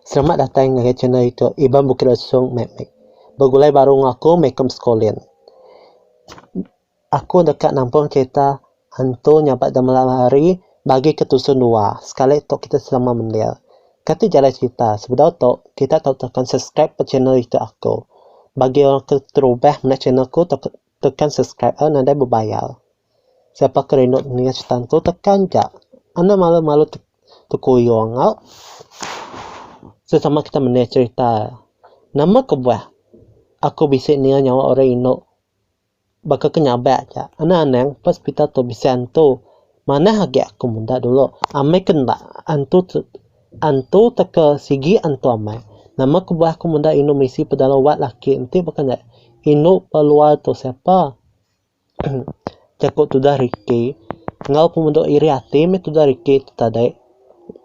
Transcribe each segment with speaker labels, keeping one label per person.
Speaker 1: Selamat datai ngagai channel ito Iban Bukit Lesong meh meh. Begulai baru enggau aku meh ikut besekolah. Aku deka nampung cerita hantu nyabak da malam hari bagi ke tusun dua sekali tok kitai selama mendir. Kati jalai cerita sebedau tok kitai tau tekan subscribe channel ito aku. Bagi orang ke terubah meda channel aku tau Tekan subscribe a nadai bebayar. Siapa ke rindu ninga cerita ntu tekan ja. Anda malu malu te tekuyung enggau sesama kita mende cerita. Nama kebuah aku bisi ninga nyawa orang indu baka ke nyabak ja. Anang anang pa sepitai tu bisi antu. Manah agi aku meda dulu amai ke enda antu antu teka sigi antu amai. Nama kebuah aku meda indu misi pedalau wat laki enti baka nya. Indu ba luar tu siapa? Jaku tudah Ricky. Enggau pemedok iri ati meh tudah Ricky tu tadi.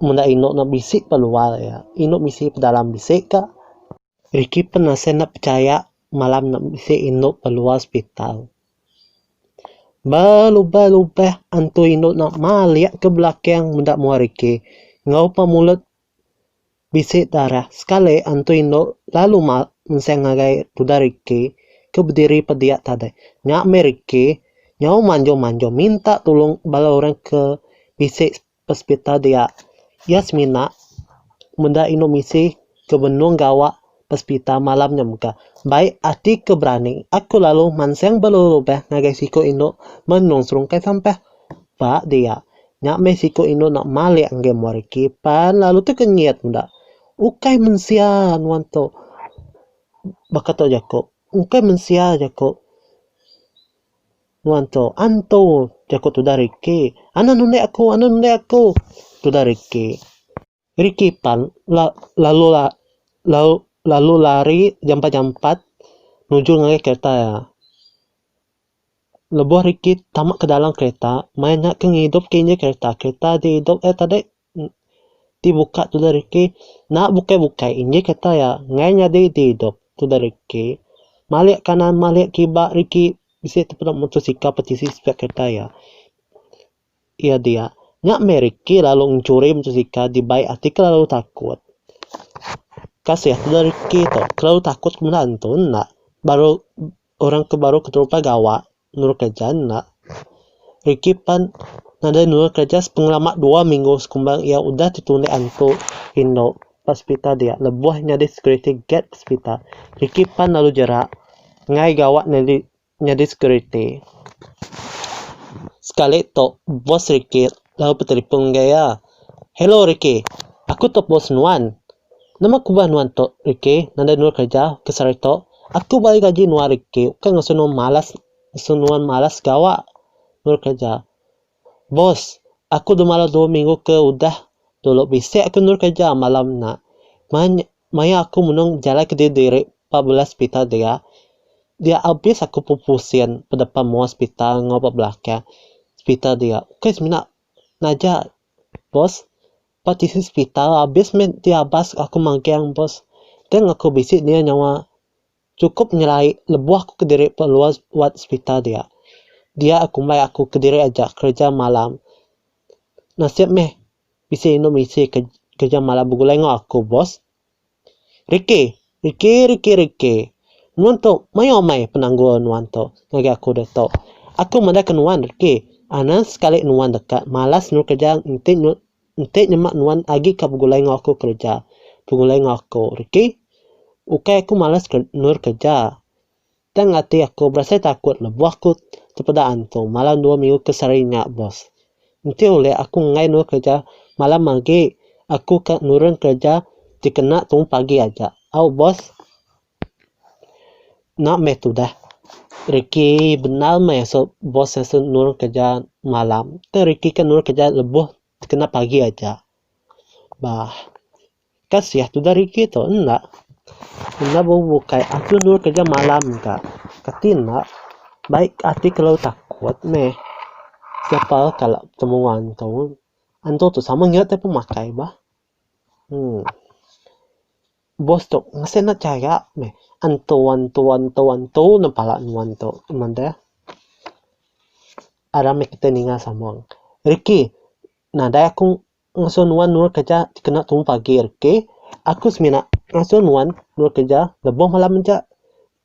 Speaker 1: Meda indu ne bisi ba luar iya. Indu misi pedalam bisi ka. Ricky pun asai enda pechaya malam nya bisi indu ba luar sepital. Ba lubah-lubah antu indu nya malik ke belakang meda mua Ricky enggau pa mulut bisi darah. Sekali antu indu lalu mak enseng ngagai tuda Ricky ke bediri pa dia tadi. Nya meh Ricky nyau manjung-manjung minta tulung bala orang ke bisi Pesepital dia, iya semina meda inu misi ke benung gawa pesepital malam nya mega. Bai ati ke berani, aku lalu mansang berulubah ngagai siku indu menung serungkai sampah. Ba dia, nya meh siku indu enda malik enggai muar reti pan lalu tekenyit meda. Ukai mensia nuan tu, baka tu jaku. Ukai mensia jaku. Nuan tu, antu! jaku tudah Ricky. Anak nulik aku, anak nulik aku! tudah Ricky. Ricky pan la lalu la lalu lalu lari jampat-jampat nuju ngagai kereta iya. Lebuh Ricky tama ke dalam kereta, maya nya ke ngidup ke injin kereta, kereta diidup iya tadi. Ti buka tudah riki enda bukai-bukai inji kata iya enggai nyadi di idup tudah riki malik kanan malik kiba riki bisi tu peda motosikal pati isi spare kereta iya. Iya dia nya meh riki lalu ngencuri motosikal dibai ati kelalu takut. Kasih tudah riki tu kelalu takut ke benda tu enda baru orang ke baru keterupai gawa nurut kereja enda. Ricky pan nadai nurut kereja sepengelama dua minggu sekumbang iya udah tetundik antu indu ba sepitar dia lebuh nyadi security guard ba sepitar. Ricky pan lalu jerak enggai gawa nyadi nyadi security. Sekali tu boss Ricky lalu betelefon enggau iya, "Hello Ricky, aku tu boss nuan. Nama kubah nuan tok riki nadai nua kerja ke sehari tok aku bagi gaji nua riki ukai ngasu nua malas ngasu nua malas gawa nua kerja boss aku dah malas dua minggu ke udah dulu bisi aku nua kerja malam nya manya maya aku menung jalai ke diri diri ba bala sepitar dia dia abis aku pupu sin bedepan mua sepitar enggau ba belakang sepitar dia ukai semina naja boss. Ba tisi sepital abis meh ti abas aku magang bos tang aku bisi nia nyawa cukup nyelai lebuh aku kediri ba luar wad sepital dia. Dia kumbai aku kediri aja kereja malam. Nasib meh bisi inu misi kereja malam begulai enggau aku bos. Riki, riki, riki, riki. Nuan tu mayuh amai penanggul nuan tu ngagai aku ditu. Aku madah ke nuan riki, anang sekali nuan deka malas nurut kerja enti nyu enti nyema nuan agi ka begulai enggau aku kerja. Begulai enggau aku riki. Ukai aku malas nurut kerja. Tang ati aku berasai takut lebuh ku tepeda antu malam dua minggu ke sehari nya bos. Enti ulih aku enggai endur kereja malam agi aku ka nurun kereja ti kena tu pagi aja. Au bos. Enda meh tudah reki bendar meh asu bos asu nurun kereja malam. Tang reki ka nurun kereja lebuh ti kena pagi aja. Bah. Kasih tu dari kitu enda. Enda bebukai aku endur kerja malam ka. Kati enda baik ati kelu takut meh siapa kala betemu wang antu. Antu tu sama enggau ti pemakai bah. Uhh. Boss tu mesti enda chaya meh antu antu antu antu ne pala nuan tu ngeban deh. Aram meh kitai ninga sama. Rikki nadai aku. Ngasuh nuan endur kereja kena tumu pagi hari ke. Aku semina ngasuh nuan endur kereja lebuh malam aja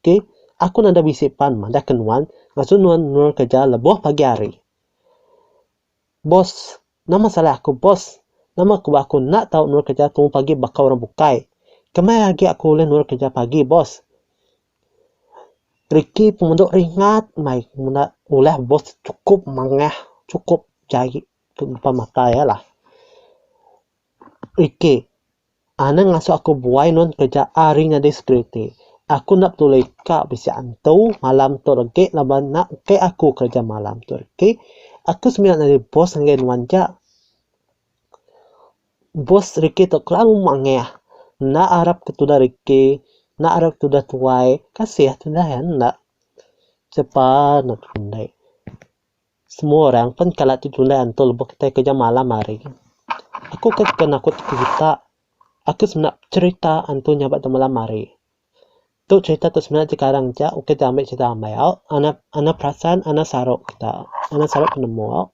Speaker 1: ke. Aku nadai bisi pan madahka nuan ngasuh nuan endur kereja lebuh pagi hari. Boss, nama salah aku boss? Nama ku ba aku enda tau endur kereja tumu pagi baka orang bukai. Kemaya agi aku ulih endur kereja pagi boss? Ricky pemandu ringat meh menda ulah boss chukup mangah, chukup jai. Tu empa matai alah. Rikki, Anang ngasuh aku buai nuan kereja ari nyadi security. Aku enda peduli ka bisi antu malam tu rengki laban enda engkai aku kereja malam tu Rikki. Aku semina nyadi bos ngagai nuan ja. Bos Rikki tu kelalu mangah. Enda arap ke tudah Rikki, enda arap ke tudah tuai. Kasih tudah iya enda. Sepa neg runding. Semua orang pen kala tu julai antu lebuh kitai kerja malam hari. Aku ke suka nakut ti kita. Aku semina pecherita antu nya ba tu malam hari. Tu cherita tu semina jekarang ja ukai ti ambi cherita amai au anak anak perasan anak saru kita. Anak saru penemu au.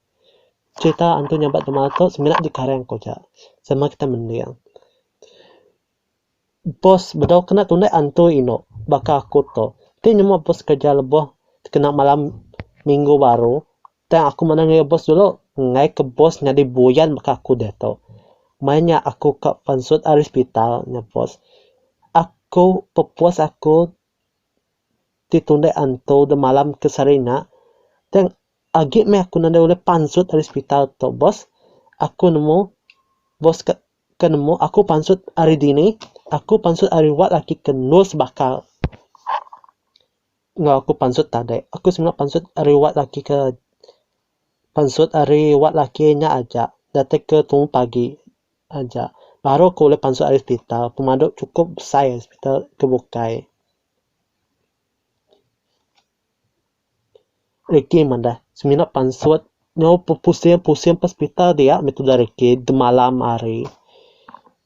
Speaker 1: Cherita antu nya ba tu malam tu semina jekarang ku ja sama kita mending. Bos bedau kena tundah antui inu baka aku tu. Ti nyema bos kereja lebuh kena malam minggu baru tang aku manah ngagai bos dulu ngai ke bos nyadi buyan baka aku diatu. Maya nya aku ka pansut ari sepital nya bos aku pepus aku ti tundah antu dak malam ke sehari nya tang agi meh aku nadai ulih pansut ari sepital tu bos aku nemu bos ka Ke nemu aku pansut ari dini, aku pansut ari wak laki ke nul sebakal. Enggau aku pansut tadi, aku semina pansut ari wak laki ke pansut ari wak laki nya aja datai ke tumu pagi aja baru aku ulih pansut ari sepital pemadu chukup besai sepital ke bukai. Ricky madah, semina pansut nyau pusing pusing ba sepital dia meh tudah Ricky malam hari.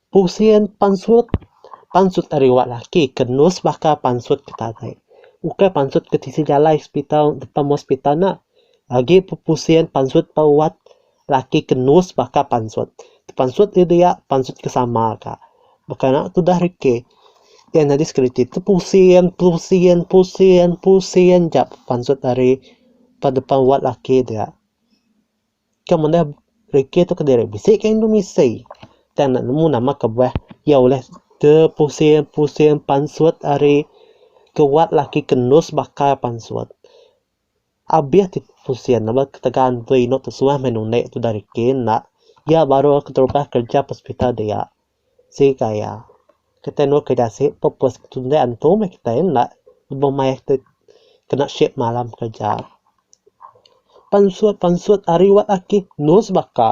Speaker 1: Pusing pansut, pansut ari wak laki ke nus baka pansut ke tadai. Ukai pansut ke tisi jalai sepital depan hospital nya. Agi pusing pansut ba wat. Laki ke nus baka pansut. Tepansut ri dia, pansut ke sama ka. Baka nya ke udah reke. Iya nyadi sekeliti tu pusing, pusing, pusing, pusing ja pansut ari ba depan wad laki dia. Ke mendeh reke tu kediri bisi ka indu misi. Tang enda nemu nama kebuah iya ulih tepusing, pusing pansut ari ke wad laki ke nus baka pansut. Abih ti pusing ne ba ketegal enti inu tu suah meh nuni tudah reti enda iya baru keterubah kerja ba hospital dia sika iya kitai enu keyuh dasi purpose kitai tundah antu meh kitai enda lebuh mayar kitai kena shift malam kerja pansut pansut ari wat ati endur sebaka.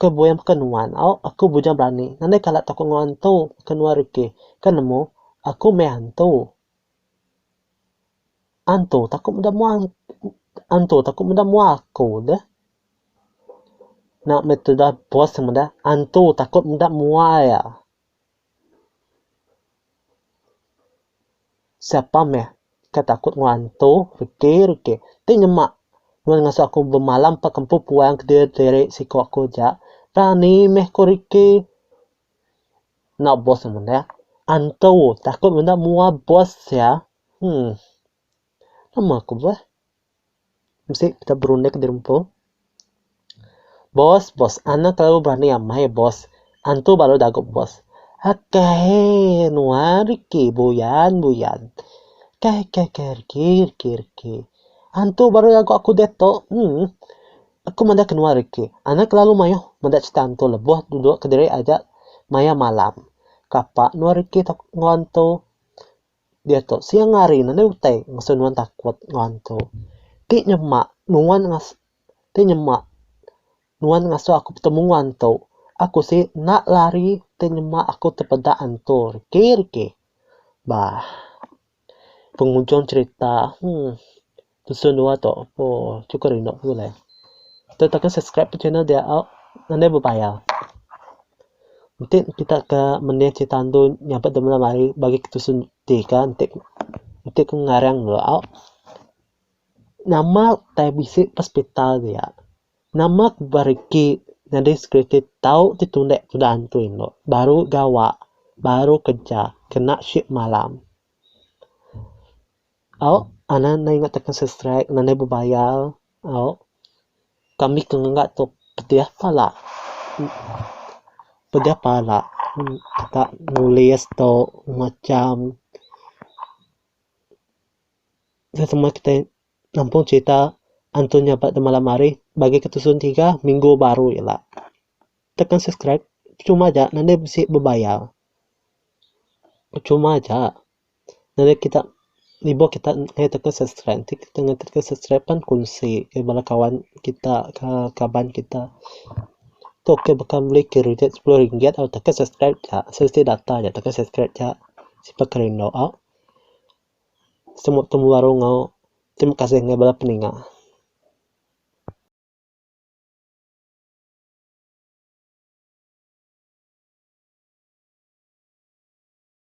Speaker 1: Ke buin baka nuan, au, aku bujang berani ngandai kala takut enggau antu ke nuan rikih. Ke nemu, aku meh antu. Antu takut meda mua antu takut meda mua aku deh. Nya meh tudah bos meda antu takut meda mua iya. Siapa meh ke takut enggau antu, reti reti. Ti nyema nuan ngasu aku bemalam empa ke empu puang ke diri diri siko aku aja. Rani meh ko reti. Enda boss ne mene. Antu takut mene mua boss sia. Hum. Nama ku beh. Mesti kita berunding ke dirumpu. Boss, boss. Anak telalu berani amai, boss. Antu baru dagup, boss. Akai, nuan riki, buyan, buyan. Kai, kai, kai, riki, riki, riki. Antu baru dagup aku diatu. Emm. Aku meda ke nuan riki. Anak kelalu mayuh meda crita antu lebuh duduk kediri aja maya malam. Kapa nuan riki tau enggau antu. Diatu siang hari ne enda utai ngasu nuan takut enggau hantu. Ti nyema nuan ngasu ti nyema nuan ngasu aku betemu enggau hantu, aku si enda lari ti nyema aku tepeda hantu riki riki. Bah penghujung cerita, heh. Dusun dua tu oh cukup rindu aku alai. Kita tekan subscribe ke channel dia au nadai bebayar. Enti kita ke mending cerita andu nyabut dep malam hari bagi ke dusun tiga enti enti ku ngarang dulu au nama tai bisi ke hospital dia nama ke beregi nyadi security tau ti tunde tuda antu endo baru gawa baru kerja kena shift malam. Au, anak enda ingat tekan subscribe nadai bebayar. Au, kami ke ngega tu pedeh pala. Pedeh pala kita nulis tu macam nya semua kitai nampung cerita antu nya ba malam hari bagi ke tusun tiga minggu baru ila. Tekan subscribe percuma aja nadai bisi bebayar. Percuma aja. Nadai kita ibuh kita ngaih tauka subscribe ti kita ngaih tauka subscribe pan kunsi ngaih bala kawan kita ka kaban kita tu ke baka meli kridit sepuluh ringgit au tauka subscribe ja siti data ja tauka subscribe ja sipak ke rindu au semu temu baru enggau terima kasih enggau bala peninga.